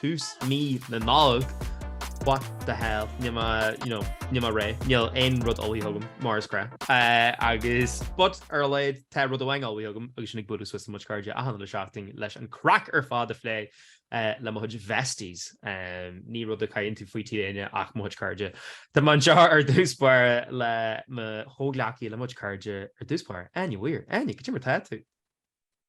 tús mí na Nollag, what the hell, níl mé, you know, níl mé réidh, níl aon rud ullmhaithe agam, mar is gnách. Agus, but, ar a laghad, tá rud amháin ullmhaithe agam, agus sin ag bualadh suas le mo chuid cairde achan uile seachtain leis an craic ar fad a phlé le mo chuid bhesties. Ní rud a caitheann tú faoi tí éinne ach mo chuid cairde. Tá mé anseo ar dtús báire le mo chomhghleacaí, le mo chuid cairde ar dtús báire. Áine Weir, Áine, cad é mar tá tú!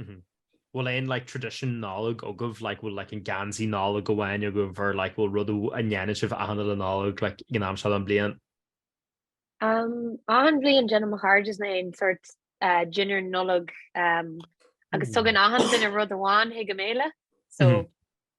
Mm-hmm. Bhfuil aon like tradition nollag agaibh like bhfuil like an geansaí nollag amháin agaibh ar like bhfuil rudaí a ndéanann sibh achan uile Nollaig like ag an am seo an bliain? Um, achan bliain déanann mo chairde is na aon sort uh, dinner nollag um, agus mm. tugann achan duine rud amháin chuig an mbéile so mm.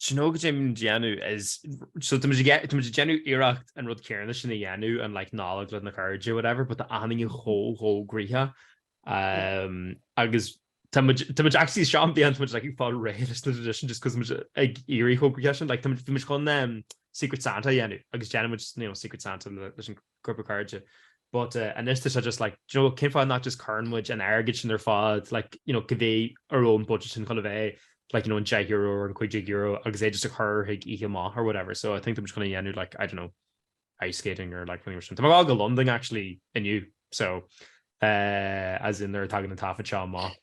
Do you know cad é tá muid ag déanamh is, so tá muid ag tá muid ag déanamh iarracht an rud céanna sin a dhéanamh an like Nollag le na cairde whatever but tá achan duine chomh chomh gnoitheach um agus tá muid tá muid actually seo an bhliain tá muid like ag fáil réidh leis na tradition just cos tá muid ag éirí chomh gnoitheach sin like tá muid bhí muid chun um Secret Santa a dhéanamh agus déanann muid you know Secret Santa leis an grúpa cairde. But eh, anois tá sé just like, do you know, cén fáth nach just cuireann muid an airgead sin ar fad, like, you know, cibé a raibh an budget sin chun a bheith, like, you know, an deich euro or an cúig déag euro agus é just a chur chuig oíche amach or whatever. So I think tá muid chun é dhéanamh, like, I don't know, ice skating or like rud éigin mar sin. Tá mé ag gabháil go Londain actually inniu, so eh, as in nuair a tagann an taifead seo amach,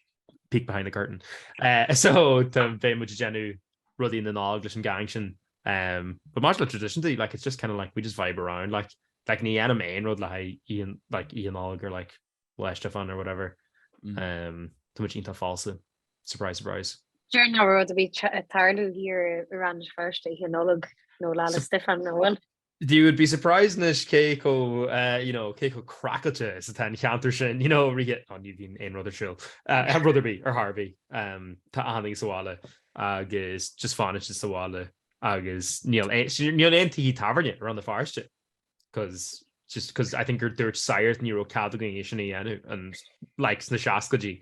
peek behind the curtain. Eh, so tá bheidh muid ag déanamh rudaí na Nollag leis an gang sin. Um, but much like tradition day, like it's just kind of like we just vibe around like like ni anime and road like Ian like Ian Og or like West Stefan or whatever. Mm. Um to much into false surprise surprise. Sure no road to be tarlu here around first day hinolog no la Stefan no one. You would be surprised anois cé chomh, you know, cé chomh craiceáilte is atá an ceantar sin, you know, right, oh ní bhíonn aon rud ar siúl, rud ar bith, ar chor ar bith, tá achan duine sa bhaile agus just fanacht sa bhaile agus níl aon tithe tábhairne around an pharóiste, cos just cos I think gur dúirt sagart ní raibh cead againn é sin a dhéanamh ann like sna seascaidí.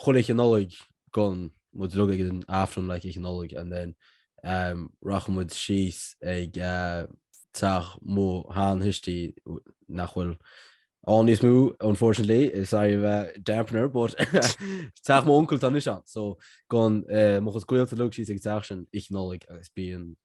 chuile oíche Nollag gabhann muid uilig ag an Aifreann like oíche Nollag and then um rachadh muid síos ag uh teach mo sheantuistí nach bhfuil ann níos mó unfortunately sorry of a dampener but teach mo uncail tá anois ann so gabhann uh mo chuid gaolta uilig síos ag an teach sin oíche Nollag agus bíonn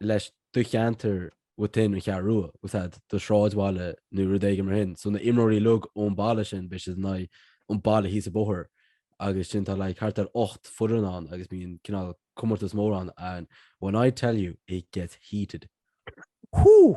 leis do cheantar within an Cheathrú Rua, we'll say do shráidbhaile nó rud éigin mar sin. So na imreoirí uilig ón bhaile sin, beidh siad in aghaidh an baile thíos an bóthar agus sin tá like thart ar ocht foireann ann agus bíonn cineál comórtas mór ann and when I tell you it gets heated. Whoo!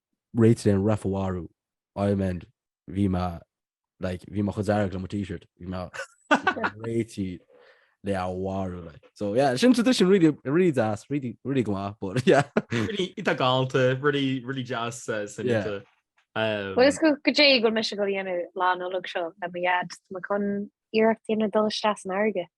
réitithe an ref a mharú, I mean, bhí mé, like, bhí mé chomh dearg le mo T-shirt, bhí mé réitithe le é a mharú, like. So, yeah, sin tradition really, really deas, really, really go maith, but, yeah. Really, iontach galánta, really, really deas, uh, san Yeah. ita. Um, Bhfuil a fhios agat cad é a bhfuil mise ag gabháil a dhéanamh lá Nollag seo le mo dhaid, tá mé chun iarracht a dhéanamh dul isteach san fharraige.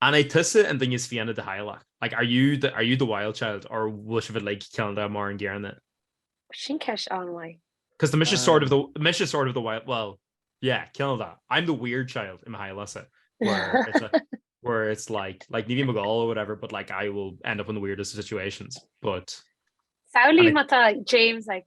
An é tusa an duine is fiáine de theaghlach? Like, are you the, are you the wild child or bhfuil sibh like, ceann de mar an gcéanna? Sin ceist an-mhaith. Cos tá mise ah. sort of the, mise sort of the wild, well, yeah, ceann de. I'm the weird child in my theaghlasa. Where it's a, where it's like like Nivi McGall or whatever, but like I will end up in the weirdest situations. But Sauli mata James like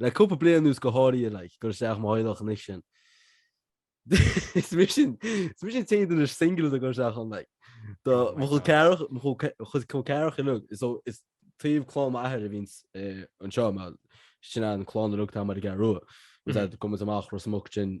le cúpla bliain anuas go háirithe, like, gur isteach mo theaghlach níos sine. Is mise an, is mise an t-aon duine singil a gur isteach ann, like. Do Oh my mo chuid God. ceathracha, mo chuid ce- chuid col ceathracha uilig, so is taobh clann m'athar a bhíonns eh, anseo, mar sin an clann uilig tá muid ar an gCeathrú Rua. Is Mhm. ea, Camas amach Ros Muc sin,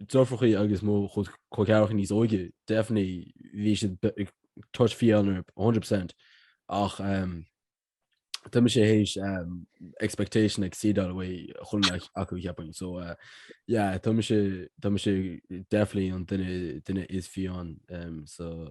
deirfiúracha agus mo chol ceathracha níos óige, definitely, bhí siad a touch fiáin a hundred percent ach tá mise théis expectation a exceedáil uaidh chun mbeadh acu cheapfainn. So yeah, tá mise definitely an duine is fiáine sa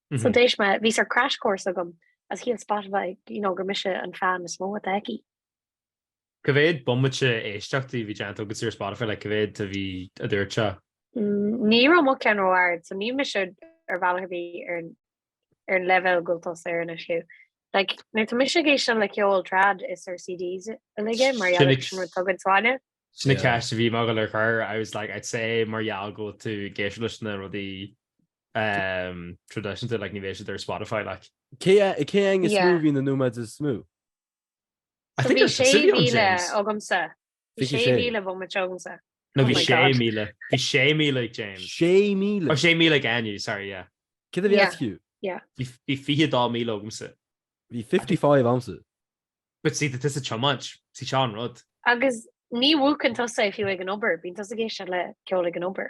So d'éist mé, bhí sort crash course agam is shíl Spotify, you know, gur mise an fan is mó atá aici. Cá mhéad bomaite éisteachta a bhí déanta agat ar Spotify, like, cá mhéad a bhí, a dúirt sé? Ní raibh mo cheann ró-ard, so níl mise ar bhealach ar bith ar an, ar an leibhéal go bhfuil tusa air anois, Hugh. Like, nuair tá mise ag éisteacht le ceol trad, is ar CDs uilig é mar gheall ar sin rud tugann sáile. Sin an cheist a bhí mé ag dul a chur, I was like, I'd say mar gheall go bhfuil tú ag éisteacht leis na rudaí traidisiúnta like ní bheidh siad ar Spotify like. Cé cé aige is mó bhí na nóiméid is mó? I think there's sé míle agamsa. Bhí sé míle bomaite agamsa. No bhí sé míle. Bhí sé míle ag James. Sé míle. Oh sé míle ag Áine, sorry yeah. Céard a bhí ag Hugh? Yeah. Bhí fiche dó míle agamsa. Bhí 55 agamsa. But see tá tusa ag tiomáint, see seo an rud. Agus ní mhúcann tusa fiú ag an obair, bíonn tusa ag éisteacht le ceol ag an obair.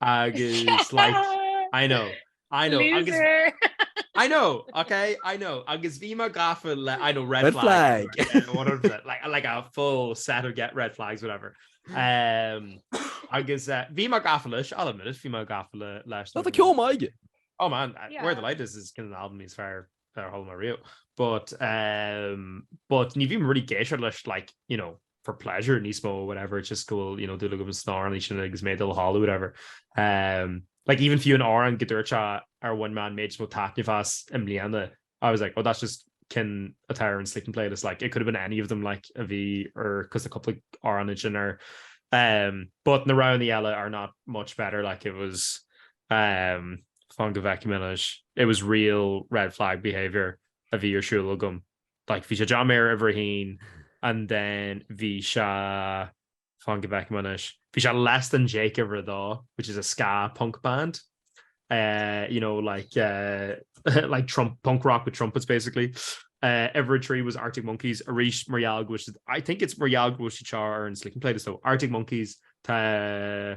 agus like I know I know agus I know okay I know agus bhí mé gafa le I know red, red flag, flag. like, like a full set of get red flags whatever um, agus uh, bhí mé gafa leis I'll admit it bhí mé gafa leis Tá ceomaige Oh man, yeah. Where the Light Is is kind of an album is fearr a chuala mé riamh. But ehm but ní bhím really ag éisteacht leis like you know for pleasure níos mó or whatever it's just go bhfuil you know dúil agam sna hamhráin sin agus mé ag dul a chodladh or whatever ehm like even fiú an amhrán go ndúirt sé ar bhain mé an méid is mó taitneamh as i mbliana I was like oh that's just ceann atá ar an sleeping playlist like it could have been any of them like a bhí ar cos na cúpla amhrán ansin ar ehm but na roghanna eile are not much better like it was Ahem, fan go bhfeicfidh mé anois. It was real red flag behaviour a bhí ar siúl agam. Like, bhí sé John Mayer uimhir a haon and then bhí sé, fan go bhfeicfidh mé anois, bhí sé Less Than Jake uimhir a dó, which is a ska punk band. Uh, you know, like, uh, like Trump, punk rock with trumpets, basically. Uh, uimhir a trí was Arctic Monkeys, arís mar gheall go bhfuil siad, I think it's mar gheall go bhfuil siad ar an sleeping playlist, so Arctic Monkeys, tá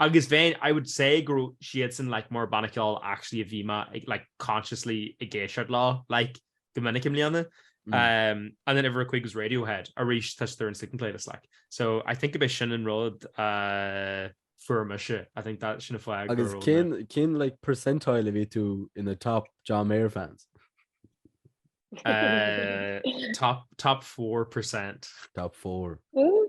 Agus bheinn, I would say, go raibh siadsan, like, mar banna ceoil actually a bhí mé, like, consciously ag éisteacht leo, like, go minic i mbliana. Um and then uimhir a cúig was Radiohead, arís tá siad ar an second playlist, like. So I think gurb é sin an rud a fuair mise, I think that sin an fáth go Agus raibh mé- cén, cén, like, percentile a bhí tú in the top John Mayer fans? Eh, top, top 4%. Top four. Ooh,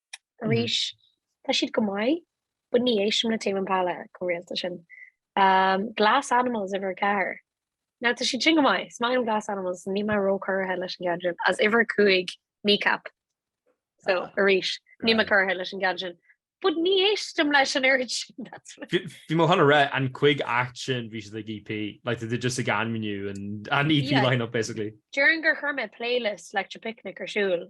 arís tá siad go maith, but ní éistim le Tame Impala chomh rialta sin. Um, Glass Animals uimhir 4. Now tá siad sin go maith, is maith liom Glass Animals, níl mé ró cortha leis an gceann sin, is uimhir 5 Kneecap. So, ah. arís, níl mé cortha leis an gceann sin. But ní éistim leis an oiread sin, that's what... Bhí mé chun a rá an chúig act sin bhí siad ag EP, like they just ag ainmniú an EP line-up basically. Déarfainn gur chuir mé playlist Electric Picnic ar siúl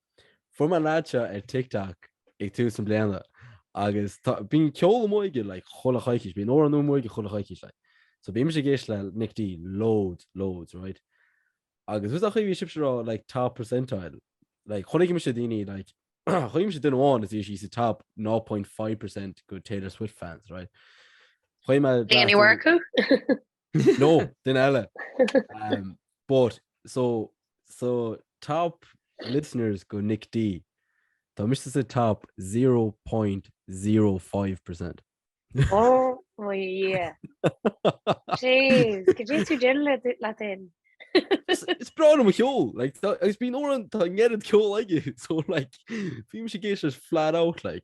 Fuair mé an lad seo ar TikTok ag tús na bliana agus tá bíonn ceol amuigh aige like chuile choicís, bíonn amhrán nua amuigh aige chuile choicís like. So bímse ag éisteacht le Nic D loads, loads, right? Agus fhios agat an chaoi a bhí sibhse a rá like top percentile, like chonaic mise daoine like chonaic mise duine amháin is bhí sí sa top 0.5% de Taylor Swift fans, right? Chuimhne Léanaí Mharcú? No, den eile. Um, but, so, so top listeners go Nick D. Tá mis sa top 0.05 percent. Oh, oh yeah. Jeez, could you two gin let in? it's bra my kol like it's been or ned kol like it so like film she gets just flat out like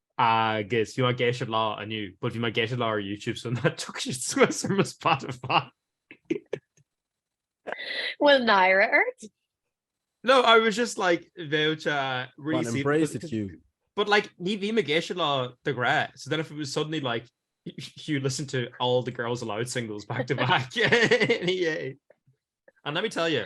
agus bhí mé ag éisteacht leo inniu but bhí mé ag éisteacht leo ar YouTube so nach dtiocfadh siad suas ar mo Spotify. Bhfuil náire ort? No, I was just like bheadh sé really Well, embrace it, Hugh. But like, ní bhím ag éisteacht leo de ghnáth, so then if it was suddenly like, you listen to all the Girls Aloud singles back to back. yeah. And let me tell you,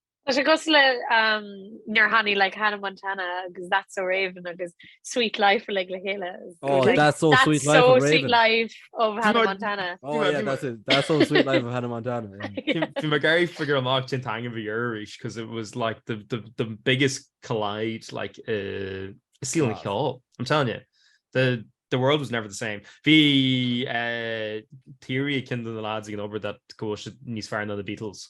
Tá sé cos le um, nar haní le Hannah Montana agus that's so raven agus sweet life le le héile oh, that's so that's sweet life, so of sweet life of Hannah you Montana oh, yeah, that's, it. that's so sweet life of Hannah Montana yeah. yeah. Gary figure an locked in time of Irish because it was like the, the the biggest collide like uh ceiling yeah. hill I'm telling you the the world was never the same. Bhí uh, theory kin the lads ag an obair dat go níos fear na the Beatles.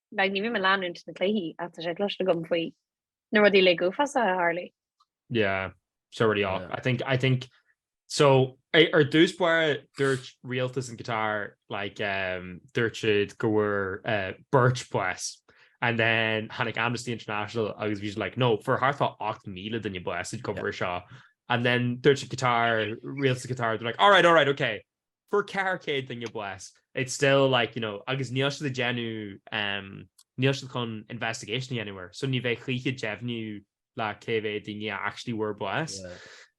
Like ní bhím ag leanúint na cluichí ach tá sé cloiste agam faoi na rudaí like uafásach a tharla. Yeah, so really off. Yeah. I think I think so ar dtús báire dúirt rialtas an Qatar like um, dúirt siad go bhfuair uh, beirt bás and then tháinig Amnesty International agus bhí siad like no fuair thart ar ocht míle duine bás i gcomhair yeah. seo and then dúirt an Qatar rialtas an Qatar they're like all right all right okay Fuair 400 duine bás. It's still like, you know, agus níl siad ag déanamh, um, níl siad chun investigation a dhéanamh air, so ní bheidh choíche deimhniú like cé mhéad daoine a actually bhfuair bás.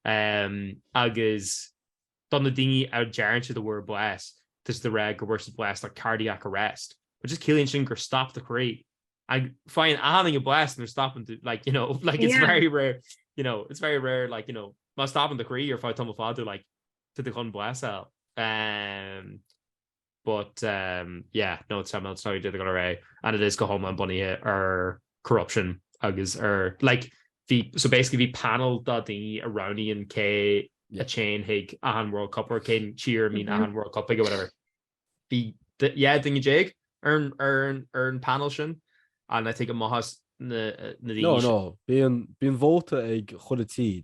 Um, agus do na daoine a deireann siad a bhfuair bás, tá siad ag rá go bhfuair siad bás le cardiac arrest, which just ciallaíonn sin gur stop do chroí. Agus faigheann achan duine bás nuair a stopann do, like, you know, like it's very rare, you know, it's very rare, like, you know, má stopann do chroí ar feadh tamall fada, like, to the gun bless out um but um yeah no it's time sorry did go array and it is go home and bunny here or corruption agus or like the so basically the panel that the Iranian K yeah. a chain hig an World Cup or Kane cheer mean mm-hmm. an World Cup or whatever the the yeah thing Jake earn earn earn panel shin and I take a mohas na, na no no being being voted ag cholatí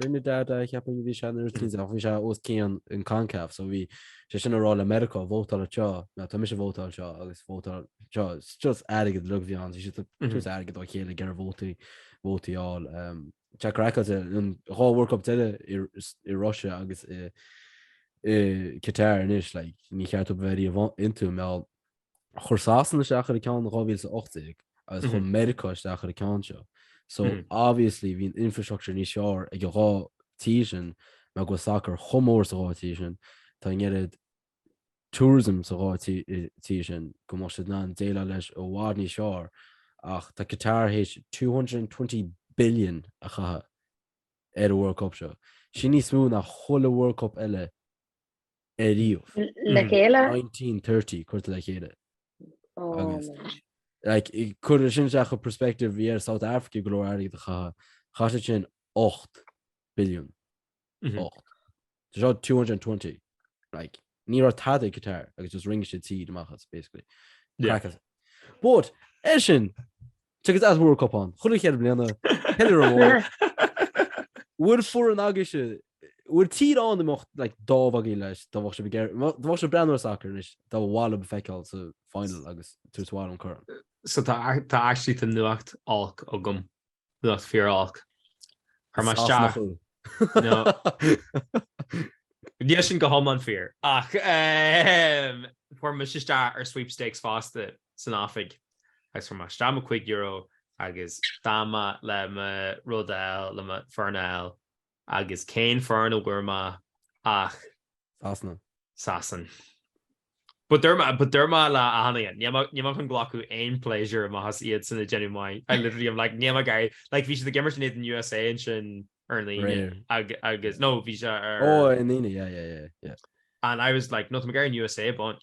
Trinidad a cheapaim a bhí sé nó rud eicínt ach bhí sé os cionn an CONCACAF so bhí sé sin ag rá le Meiriceá vótáil anseo now tá mise vótáil anseo agus vótáil seo it's just airgead uilig a bhí ann so bhí siad ag tabhairt airgead dá chéile ag iarraidh vótaí vótaí a fháil um, Tá craic as ar an dhá World Cup eile i, i Russia agus i, i Qatar anois like, níor cheart dó a bheith riamh iontu mbeadh chuir Sasana isteach ar an gceann 2018 agus chuir Meiriceá isteach ar an gceann seo. So obviously bhí an infrastructure níos fearr ag an dhá tír sin mar go bhfuil sacar chomh mór sa dhá tír sin. Tá an oiread tourism sa dhá tír sin go mbeadh siad in ann déileáil leis i bhfad níos fearr ach tá Qatar th'éis 220 billion a chaitheamh ar an World Cup seo. Sin níos mó ná chuile World Cup eile ariamh. Le chéile? 1930 curtha le chéile. Ó. Agus- Like, i- cuir é sin isteach i perspective bhí ar South Africa go leor airgid a chaitheamh. Chaith siad sin 8 billiún. Mhm. 8. Tá seo 220. Like, ní raibh tada ag Qatar agus just rinne siad tír amach as, basically. Yeah. Cracas. But, é sin, Tuigeas an World Cup ann. Chuile cheithre bliana. Beidh ar. An bhfuil foireann agaibhse? Bhfuil tír ann imeacht like dá bhfágfaí libh é, dá bheadh sibh ag iarraidh, dá bheadh sibh ag breathnú ar sacar anois, a ba mhaith libh a fheiceáil sa final agus tabhairt abhaile an corn? So tá tá actually nuacht olc agam, nuacht fíor olc. Chuir mé isteach. Sasnach thú. No. Níl sin go hiomlán fíor, ach eh, chuir mise isteach ar sweepstakes fosta san oifig. agus chuir mé isteach mo €5 agus d'fhan mé le mo rud a fháil, le mo foireann a fháil, agus cén foireann a bhfuair mé ach. Sasana. Sasana. But deir mé, but deir mé le Áine, níl mé, níl mé chun glacadh aon pléisiúr amach as iadsan ag déanamh maith, I literally am like, níl mé ag iarraidh, like bhí siad ag imirt in éadan an USA ansin ar an Aoine, Aréir. agus, no, bhí sé ar. Oh, ar an Aoine, yeah, yeah, yeah, yeah. And I was like, no, tá mé ag iarraidh an USA a bhaint.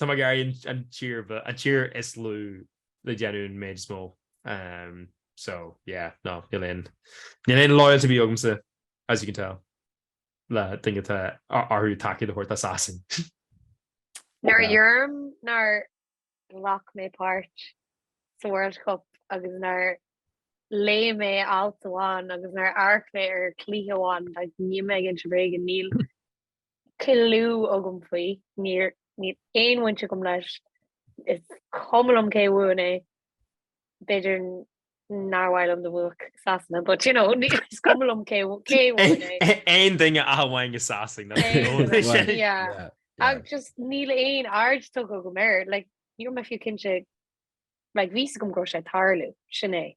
Tá mé ag iarraidh an tír ba, an tír is lú le déanamh amach an méid is mó. So, yeah, no, níl aon, níl aon loyalty ar bith agamsa, as you can tell, le daoine atá orthu tacaíocht a thabhairt do Sasana. Nuair a deirim nár ghlac mé páirt sa World Cup agus nár léigh mé alt amháin agus nár amharc mé ar cluiche amháin, like, níl mé ag inse bréige, níl, clue agam faoi, níor, níl aon bhaint agam leis, is cuma liom cé a bhaineann é, b'fhéidir nár mhaith liom dá mbuafadh Sasana, but you know, is cuma liom cé a cé a bhuaigh é. Aon duine ach amháin na Sasanaigh, nó Aon duine ach amháin, yeah. Yeah, yeah. Ach just níl aon aird tugtha agam air, like, ní raibh mé fiú cinnte, like, bhí a fhios agam go raibh sé ag tarlú, sin é.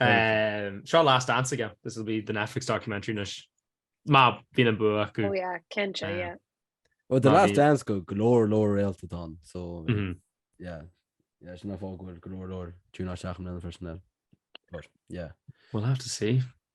Um, seo last dance again. This will be the Netflix documentary nish. Ma been a book. Oh yeah, Kencha, uh, yeah. Well the last dance go glór lór réalta don so mm -hmm. yeah. Yeah, sin fágur glór lór túna seach an personnel. Yeah. We'll have to see.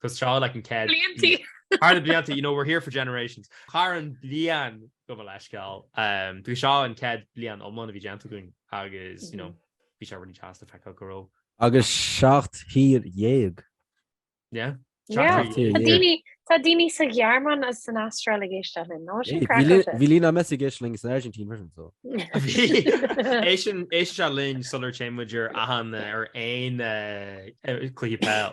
'Cause tá's agat like an chéad. Bliantaí. Thar na blianta, you know, we're here for generations. Thar an bhliain go bhfuil leithscéal. Um, Bhí seo an chéad bhliain iomlán a bhí déanta againn agus, you know, bhí sé really deas le feiceáil go raibh. Agus seacht dtír déag. Yeah. Yeah. Tá daoine sa Ghearmáin is san Astráil ag éisteach linn, nó sin craic. Bhí Lionel Messi ag éisteach linn san Airgintín mar sin so. Éisteann sé linn sular dtéann sé ann ar aon chluiche peil.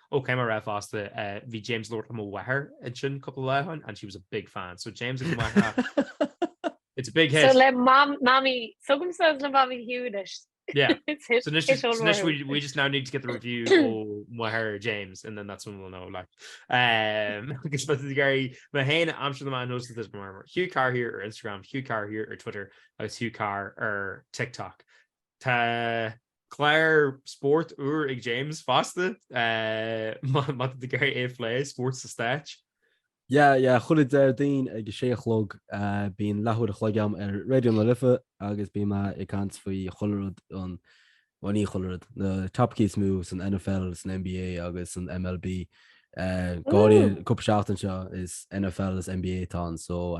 Okay má raibh a fhios agat, bhí James ag labhairt le mo mháthair ansin cúpla lá ó shoin and she was a big fan. So James agus máthair. It's a big hit. So le Mamaí, tugaim suas le Mamaí Hugh anois. Yeah. It's hit, so hit all around. So we, we just now need to get the review ó mháthair James and then that's when we'll know like. Um, agus le gairid, mé féin, aimsir na man host this murmur. Hugh Carr here ar Instagram, Hugh Carr here ar Twitter agus Hugh Carr ar TikTok. Tá Clár spóirt úr ag James fosta, maidir le gach rud a phlé, spórt sna Stáit. Yeah, yeah, chuile Déardaoin ag a sé a chlog bíonn leathuair a chloig agam ar Raidió na Life agus bíonn mé ag caint faoi chuile rud an, bhuel ní chuile rud, na topaicí is mó san NFL, san NBA agus san MLB. Go háirithe an cúpla seachtain seo is NFL is NBA atá ann so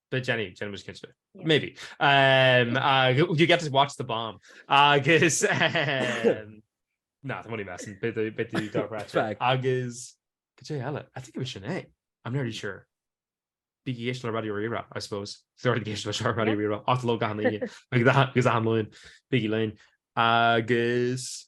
But Jenny Jenny was kitchen yeah. maybe um uh you get to watch the bomb I guess um, nah money messing bit the bit the dark rat track I guess could you hell I think it was Sinead I'm nearly sure bíéis le radio rira I suppose thuirgéis le seir radio rira aló gan gus anlóin bigí lein agus